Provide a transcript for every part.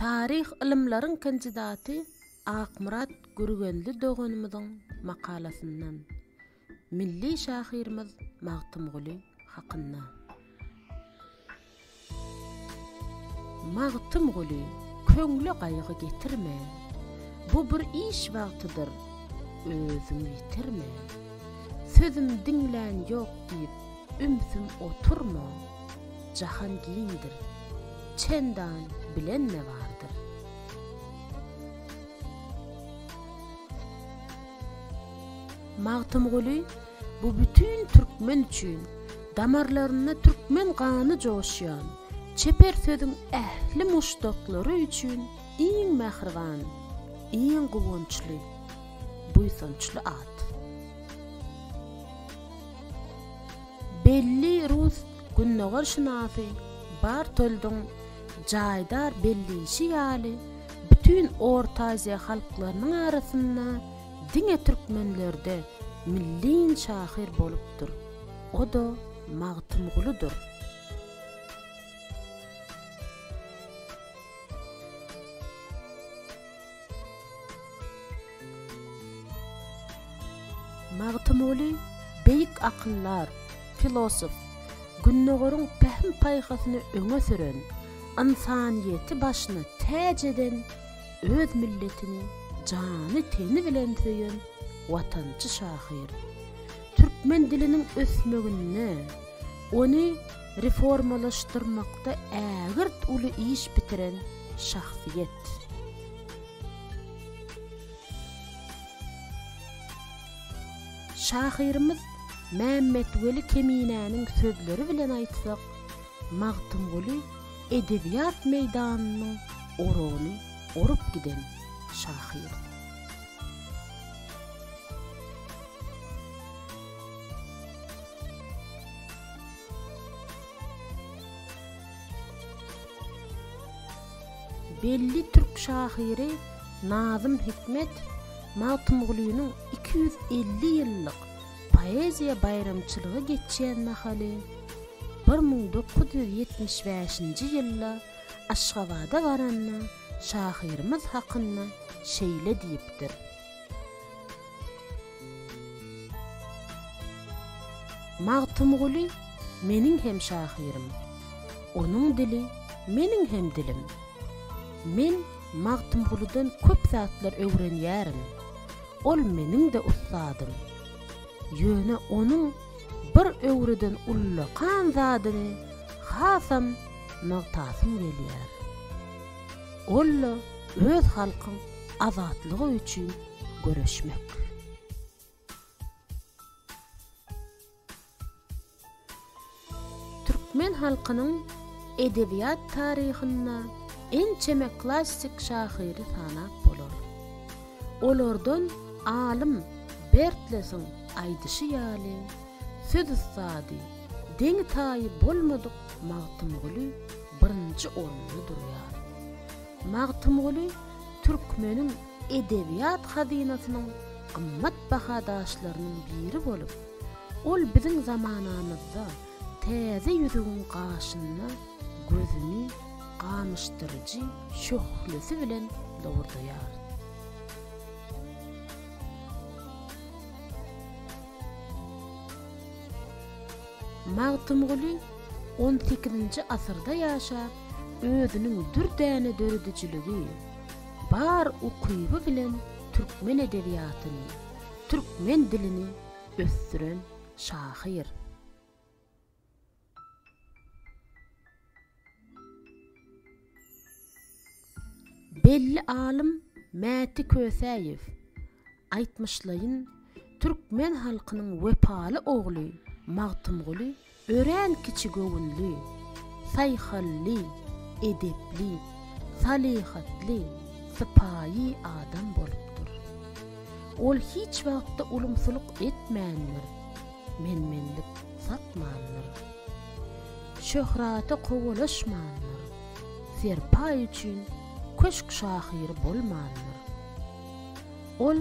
Taryh ylymlaryň kandidaty Akmyrat Gürgenli doganymyzyň makalasyndan milli şahyrymyz Magtymguly hakynda. Magtymguly, köňle gaýgy getirme, Bu bir iş wagtydyr, özüňi ýitirme. Sözüm diňlän ýok diýip, Ümsüm oturma, jahan giňdir, Çendan bilen-de bardyr. Magtymguly bu bütin türkmen üçin damarlarynda türkmen gany joşýan çeper sözüň ähli muşdaklary üçin iň mähriban, iň guwançly, buýsançly at. Belli rus gündogarşynasy Bartoldyň jaýdar belleýşi ýaly, bütin Orta Aziýa halklarynyň arasynda diňe türkmenlerde milliýn şahyr bolupdyr, o-da Magtymgulydyr. Magtymguly beýik akyldar, filosof, Gündogaryň pähim-paýhasyny öňe süren, ynsanyýeti başyna täç eden, öz milletini jany-teni bilen söýen watançy şahyr. Türkmen diliniň ösmeginde, ony reformalaşdyrmakda ägirt uly iş bitiren şahsyýet. Şahyrymyz Mämmetweli Keminäniň sözleri bilen aýtsak, Magtymguly edebiýat meýdanynyň oragyny orup giden şahyr. Belli türk şahyry Nazym Hikmet Magtymgulynyň iki ýüz elli ýyllyk poeziýa baýramçylygy geçýän mahaly bir müň dokuz ýüz ýetmiş bäşinji ýylda Aşgabada baranda şahyrymyz hakynda şeýle diýipdir. Magtymguly meniň hem şahyrym, onuň dili meniň hem dilim. Men Magtymgulydan köp zatlar öwrenýärin, ol meniň-de ussadym. Ýöne onuň bir öwreden ullakan zadyny hasam nygtasym gelýär. Ol-la öz halkyň azatlygy üçin göreşmek. Türkmen halkynyň edebiýat taryhynda ençeme klassik şahyry sanap bolar. Olardan alym Bertlesiň aýdyşy ýaly, söz ussady, deňi-taýy bolmadyk Magtymguly birinji orunda durýar. Magtymguly türkmeniň edebiýat hazynasynyň gymmat baha daşlarynyň biri bolup, ol biziň zamanamyzda täze ýüzügiň gaşynda gözüni gamyşdyryjy şöhlesi bilen lowurdaýar. Magtymguly on sekizinji asyrda ýaşap, özüniň dürdäne döredijiligi, bar ukyby bilen türkmen edebiýatyny, türkmen dilini ösdüren şahyr. Belli alym Mäti Kösäýew, Aýtmyşlaýyn, türkmen halkynyň wepaly ogly Magtymguly örän kiçigöwünli, saýhally, edepli, salyhatly, sypaýy adam bolupdyr. Ol hiç wagtda ulumsylyk etmändir, menmenlik satmandyr. Şöhrata kowalaşmandyr, serpaý üçin köşk şahyry bolmandyr. Ol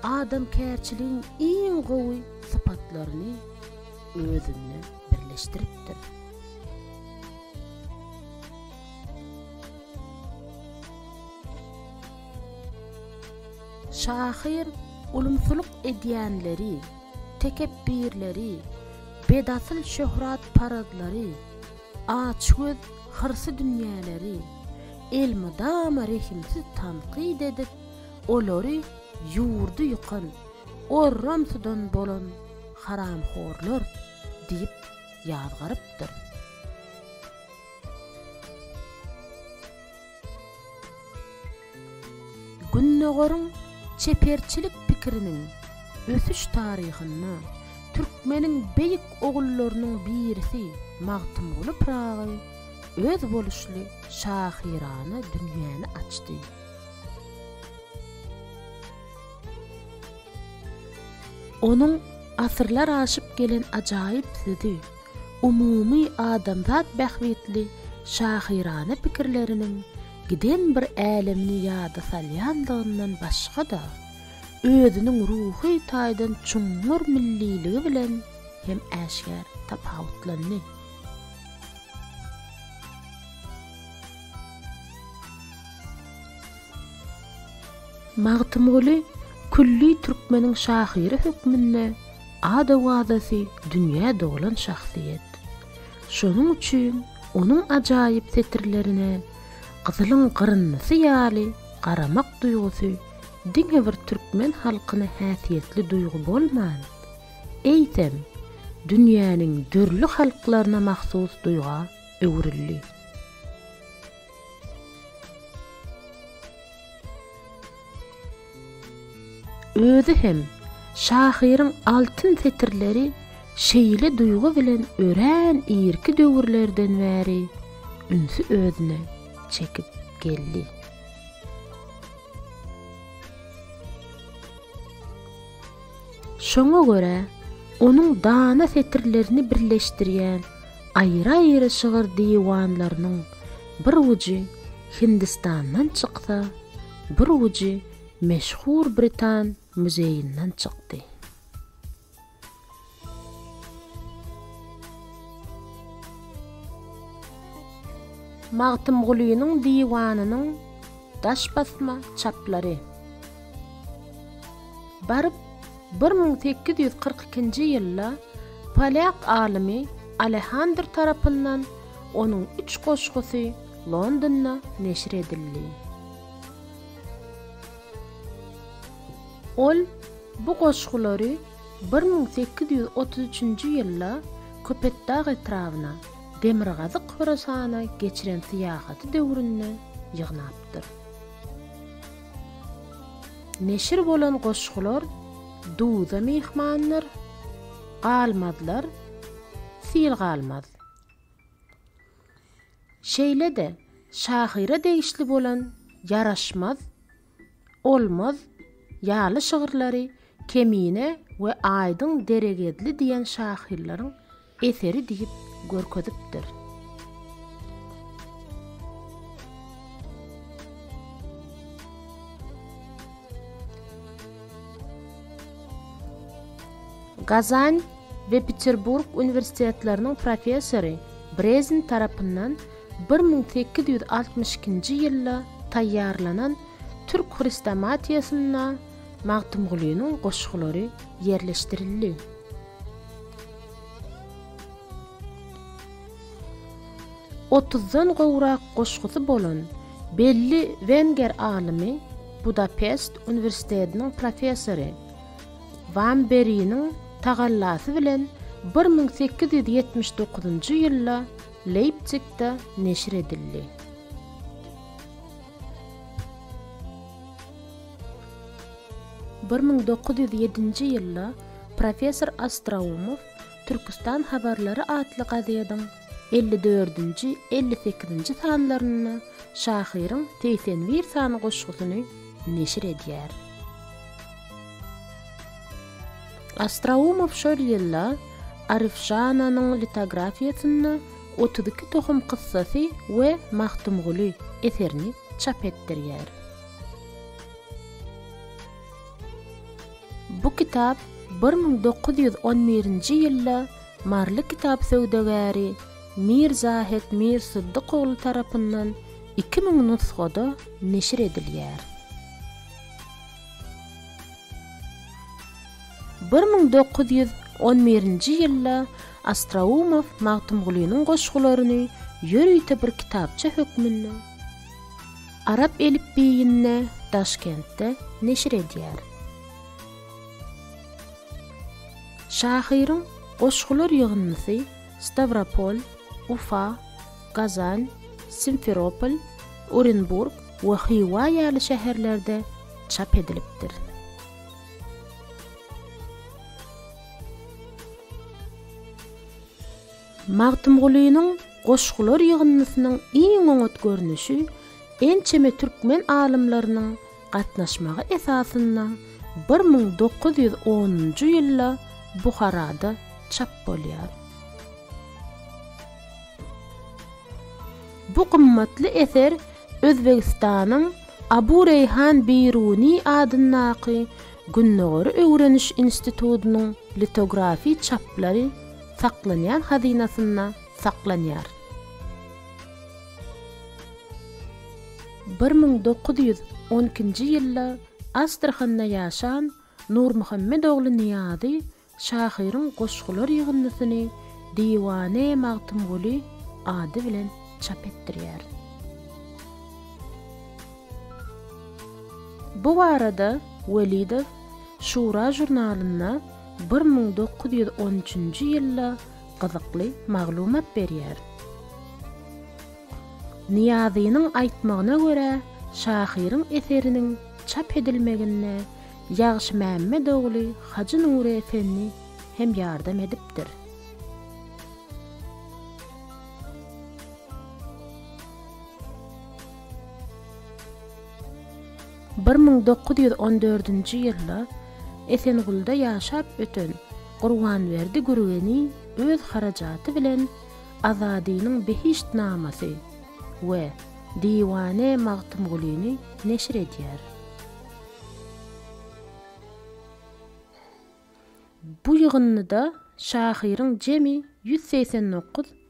adamkärçiligiň iň gowy sypatlaryny özünde birleşdiripdir. Şahyr ulumsylyk edýänleri, tekepbirleri, bedasyl şöhratparazlary, açgöz, hyrsy dünýäleri elmydama rehimsiz tankyt edip, Olary ýurdy ýykan, orram tudan bolan haramhorlar diýip ýazgarypdyr. Gündogaryň çeperçilik pikiriniň ösüş taryhynda türkmeniň beýik ogullarynyň birisi Magtymguly Pyragy özboluşly şahyrana dünýäni açdy. Onuň asyrlar aşyp gelen ajaýyp sözi, umumy adamzat bähbitli şahyrana pikirleriniň giden bir älemini ýada salýandygyndan başga-da, özüniň ruhy taýdan çuňňur milliligi bilen hem äşgär tapawutlandy. Magtymguly külli türkmeniň şahyry hökmünde ad-owazasy dünýä dolan şahsyýet. Şonuň üçin onuň ajaýyp setirlerine gyzylyň gyryndysy ýaly garamak duýgusy diňe bir türkmen halkyna häsiýetli duýgy bolman, eýsem, dünýäniň dürli halklaryna mahsus duýga öwrüldi. Özi hem şahyryň altyn setirleri şeýle duýgy bilen örän irki döwürlerden bäri ünsi özüne çekip geldi. Şoňa görä, onuň dana setirlerini birleşdirýän Aýry-aýry şygyr diwanlarynyň bir ujy Hindistandan çyksa, bir ujy meşhur britan muzeýinden çykdy. Magtymgulynyň diwanynyň daş basma çaplary. Baryp, Bir müň sekiz ýüz kyrk ikinji ýylda polýak alymy Alehandr tarapyndan onuň üç goşgusy Londonda neşir edildi. Ol bu goşgulary bir müň sekiz ýüz otuz üçünji ýylda Köpetdag etrabyna, Demirgazyk Horasana geçiren syýahaty döwründe ýygnapdyr. Neşir bolan goşgular Duza myhmandyr, galmazlar, sil galmaz. Şeýle-de şahyra degişli bolan Ýaraşmaz, Olmaz ýaly şygyrlary Kemine we Aýdyň Deregedli diýen şahyrlaryň eseri diýip görkezipdir. Gazan we Peterburg uniwersitetleriniň professory Brezin tarapyndan bir müň sekiz ýüz altmyş ikinji ýylda taýýarlanan Türk hrestomatiýasynda Magtymgulynyň goşgulary ýerleşdirildi. Otuzdan gowrak goşgusy bolan belli wenger alymy Budapest uniwersitediniň professory Wam Beriniň tagallasy bilen bir müň sekiz ýüz ýetmiş dokuzynjy ýylda Leýpzigde neşir edildi. Bir müň dokuz ýüz ýedinji ýylda professor Ostroumow Türküstan habarlary atly gazediň elli dördünji, elli sekizinji sanlarynda şahyryň segsen bir sany goşgusyny neşir edýär. Ostroumow şol ýylda Aryfjananyň litografiýasynda Otuz iki tohum kyssasy we Magtymguly eserini çap etdirýär. Bu kitap bir müň dokuz ýüz on birinji ýylda maryly kitap söwdagäri Mir Zahid Mir Syddyk ogly tarapyndan iki müň nusgada neşir edilýär. Bir müň dokuz ýüz on birinji ýylda Astraumow Magtymgulynyň goşgularyny ýörite bir kitapça hökmünde, Arap elipbiýinde Daşkentde neşir edýär. Şahyryň goşgular ýygyndysy Stawropol, Ufa, Gazan, Simferopol, Orenburg we Hywa ýaly şäherlerde çap edilipdir. Magtymgulynyň goşgular ýygyndysynyň iň oňat görnüşi ençeme türkmen alymlarynyň gatnaşmagy esasynda bir müň dokuz ýüz onunjy ýylda Buharada çap bolýar. Bu gymmatly eser Özbegistanyň Abu Reýhan Biruny adyndaky Gündogary öwreniş institutynyň litografiýa çaplary Saklanýan hazynasynda saklanýar. Bir müň dokuz ýüz on ikinji ýylda Astrahanda ýaşan Nurmuhammet ogly Nyýazy şahyryň goşgular ýygyndysyny Diwane Magtymguly ady bilen çap etdirýär. Bu barada Welidow Şura žurnalynda bir müň dokuz ýüz on üçünji ýylda gyzykly maglumat berýär. Nyýazynyň aýtmagyna görä, şahyryň eseriniň çap edilmeginde Ýagşymämmet ogly Hajy Nury Efendi hem ýardam edipdir. Bir müň dokuz ýüz on dördünji ýylda Esengulda ýaşap öten Gurbanberdi Gürgeniý öz harajaty bilen Azadynyň Behişt namasy we Diwane Magtymgulyny neşir edýär. Bu ýygyndyda şahyryň jemi ýüz segsen dokuz